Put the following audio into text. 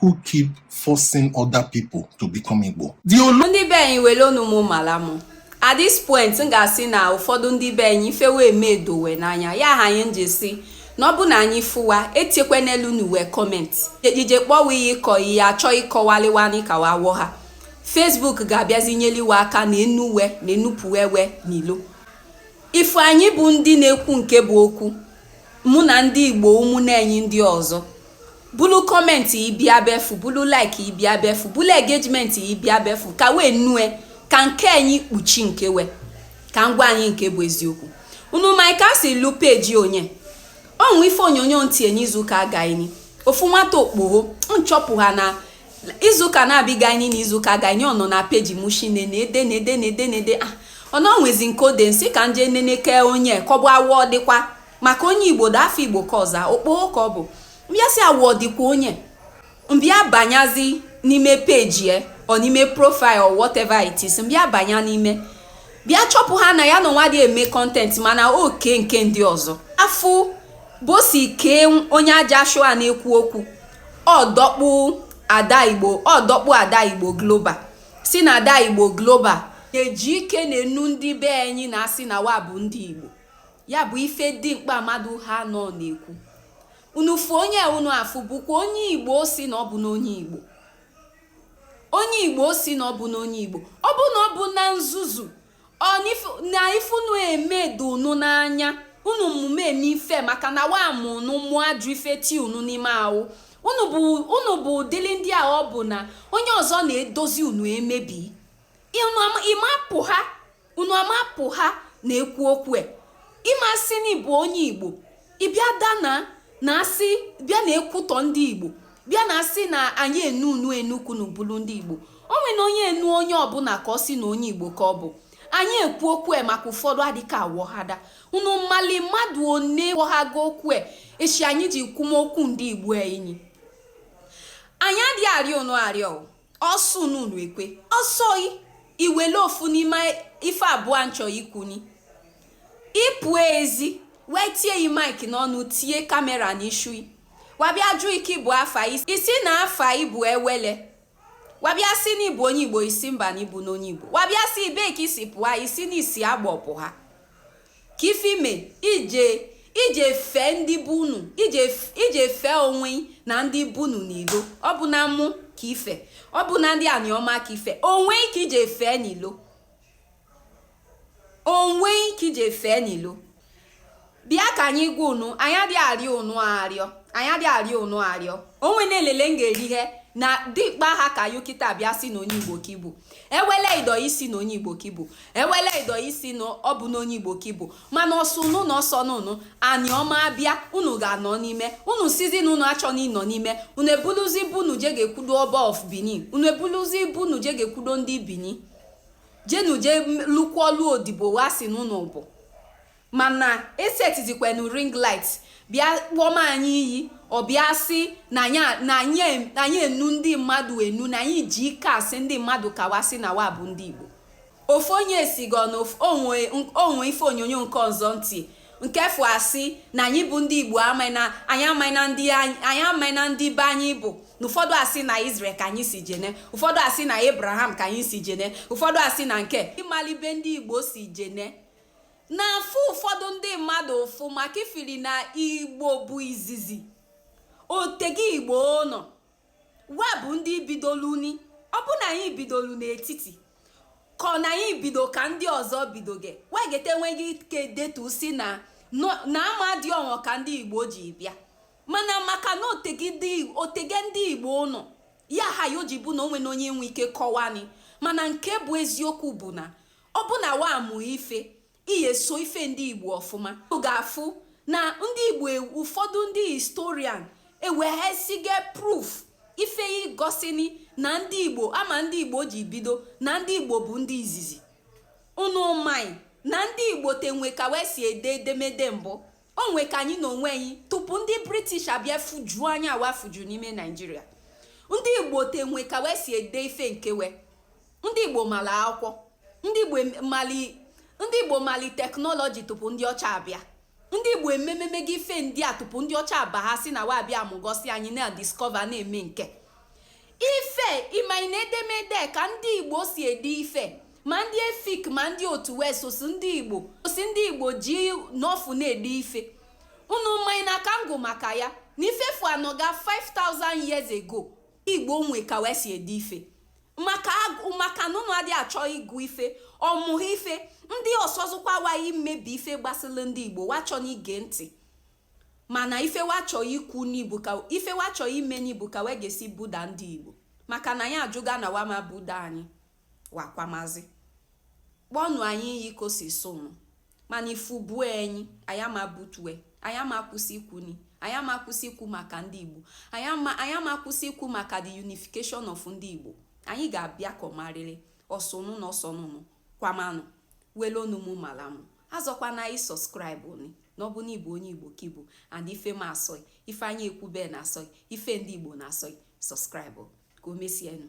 who keep forcing other people to become Igbo. Ndị be anyị were unu mụ mara mụ at this point m ga-asị na ụfọdụ ndị be anyị ife we eme edo we n'anya ya ha anyị ji sị na ọ bụ na anyị fụ wa etiekwe n'elu n'uwe comment ije kpọwa ihe ịkọ ihe achọ ịkọwali wa ni ka wa wọha Facebook ga-abịazi nyeli we aka na-enu we na-enupụwe we n'ilo ife anyị bụ ndị na-ekwu nke bụ okwu mụ na ndị igbo ụmụnne anyị ndị ọzọ bulu comment ibia befu bulu like ibia befu bulu engagement ibia befu ka wee nue ka nke anyị kpuchi nke we ka m gwa anyị nke bụ eziokwu unu ma ka si lu page onye ọnwụ ife onyonyo ntị enye izuụka agaghị ofu nwata okpoho m chọpụha na izuụka na-abịga anyị na izuụka agaghị ọ nọ na page mushine na ede na ede na ede na ede ah, ọ na o nwezi nke o de m sị ka m je nene ke onye kọbụ awọ dịkwa maka onye igbo dị afọ igbo ka ọza okpoo ka ọ bụ m bịa sị awụ ọdịkwa onye m bịa banyazi n'ime page ya ọ n'ime profile or whatever it is m bịa banya n'ime bịa chọpụha na ya na nwa dị eme content mana oke nke ndị ọzọ afụ ụbọsị kee onye aja shụa na-ekwu okwu ọdọkpụ ada igbo ọdọkpụ ada igbo global sị na ada igbo global eji ike na-enu ndị be anyị na-asị na wa bụ ndị igbo ya bụ ife dị mkpa mmadụ ha nọ na-ekwu unu fụ onye unu afụ bụkwa onye igbo si na ọ bụ n'onye igbo onye igbo si na ọ bụ n'onye igbo ọ bụ na ọ bụ na nzuzu na ife unu eme dị unu n'anya unu mmume eme ife maka na wa mụ unu mụọ ajọ ife ti unu n'ime ahụ unu bụ ụdịrị ndị a ọ bụ na onye ọzọ na-edozi unu emebi ị mapụha unu amapụha na-ekwu okwu e ị ma sị na ị bụ onye igbo ị bịa dana na asị bịa na-ekwutọ ndị igbo bịa na-asị na anyị enu unu enu ka unu bulu ndị igbo o nwene onye enu onye ọbụla ka ọ sị na onye igbo ka ọ bụ anyị ekwu okwu e maka ụfọdụ adịka awọha da unu malị mmadụ one wọhago okwu e esi anyị ji kwuma okwu ndị igbo enyi anyị adịghị arịọ unu arịọ ọ sọ unu ekwe ọ sọ yị ị wele ofu n'ime ife abụọ m chọ ikwu ni ị pụ ezi wee tie yi mic n'ọnụ tie camera n'ishu wa abịa jụ ị kị bụ afa ị sị na afa ị bụ Ewele wa abịa sị na ị bụ onye igbo ị sị mba na ị bụ n'onye igbo wa abịa sị ị ebe ka ị si pụa ị sị na ị si Agbọ pụha ka ife me i ji fee ndị be unu i ji fee onwe na ndị be unu n'ilo ọ bụ na mụ ka i fe ọ bụ na ndị anịọma ka i fe onwe i ka i ji fee n'ilo onwe i ka i ji fee n'ilo bịa ka anyị gwa unu anyị adịghị arịọ unu arịọ anyị adịghị arịọ unu arịọ o nwene elele m ga-eri ihe na dịkpa ha ka yo kịta bịa sị na onye igbo ka ị bụ ewele ido isi na onye igbo ka ị bụ ewele ido isi na ọ bụ na onye igbo ka ị bụ mana ọsọ unu na ọsọ n'unu anịọma abịa unu ga-anọ n'ime unu sịzị na unu achọ na ịnọ n'ime unu ebuluzi ibu unu je ga-ekwudo ọba of benin unu ebuluzi ibu unu je ga-ekwudo ndị benin jenu je lụkwuo odibo wa sị na unu bụ Mana e setizikwanụ ring light bịa kpọma anyị iyi, ọ bịa sị na anyị a- na anyị em- na anyị enu ndị mmadụ enu, na anyị ji ike asị ndị mmadụ ka wa sị na wa bụ ndị Igbo. Ofu onye sigọ na of- onwe onwe ife onyonyo nke ọzọ ntị nke fụ asị na anyị bụ ndị Igbo amaghị na anyị amaghị na ndị anyị anyị amaghị na ndị be anyị bụ na ụfọdụ asị na Israel ka anyị si jene ụfọdụ asị na Abraham ka anyị si jene ụfọdụ asị na nke ị mali ebe ndị Igbo si jene na-afụ ụfọdụ ndị mmadụ ụfụ maka ife ri na igbo bụ izizi o tego igbo nọ wa bụ ndị bidolu ni ọ bụ na anyị bidolu n'etiti ka ọ na anyị bido ka ndị ọzọ bidoge wegete enweghị ike detu sị na na ama dị ọnwa ka ndị igbo ji bịa mana maka na o tege ndị igbo nọ ya ha ya o ji bụ na o nwene onye nwe ike kọwani mana nke bụ eziokwu bụ na Ọ bụ na wa mụ ife, i ye so ife ndị Igbo ọfụma. Ị ga-afụ na ndị Igbo e, ụfọdụ ndị historian ewehasigo proof ife igosini na ndị Igbo ama ndị Igbo ji bido na ndị Igbo bụ ndị izizi. Unu maghị na ndị Igbo te nwe ka we si ede edemede mbụ onwe ka anyị na onwe anyị tupu ndị british abịa fujuo anyị awa fuju n'ime nigeria ndị igbo te nwe ka we si ede ife nke we ndị igbo mala akwụkwọ ndị igbo em- mali ndị igbo mali technology tupu ndị ọcha abịa ndị igbo emememege ife ndị a tupu ndị ọcha abaha sị na wa abịa igosi anyị na discover na-eme nke ife ị maghị na edemede ka ndị igbo si ede ife ma ndị efik ma ndị otu wee sosi ndị igbo sosi ndị igbo ji n'ọfụ na-ede ife unu maghị na aka ngụ maka ya na ife afụ anọga 5000 years ago igbo nwe ka we si ede ife maka agụ maka na unu adịghị achọ ịgụ ife ọmụhụ ife ndị ọsọzụkwa waghị mmebi ife gbasịlị ndị igbo wa chọ na ige ntị mana ife wa chọ ikwu ni bụ ka ife wa chọ ime ni bụ ka we ga-esi buda ndị igbo maka na anyị ajụga na wa ama ebuda anyị wakwamazi kpọnụ anyị iyi ka o si sọ ụnụ mana ife ọ bụ enyi anyị ama butue anyị ama akwụsị ikwu ni anyị ama akwụsị ikwu maka ndị igbo anyị ama anyị ama akwụsị ikwu maka the unification of ndị igbo anyị ga-abịa ka ọ marịrị ọ sọ ụnụ na ọ sọ ụnụ kwamanụ wele ọnụ mụ mala mụ azọkwa na anyị subscribe ni na ọ bụ na ị bụ onye igbo ka ị bụ and ife m asọ gị ife anyị ekwube na-asọ gị ife ndị igbo na-asọ gị subscribe ka o mesienụ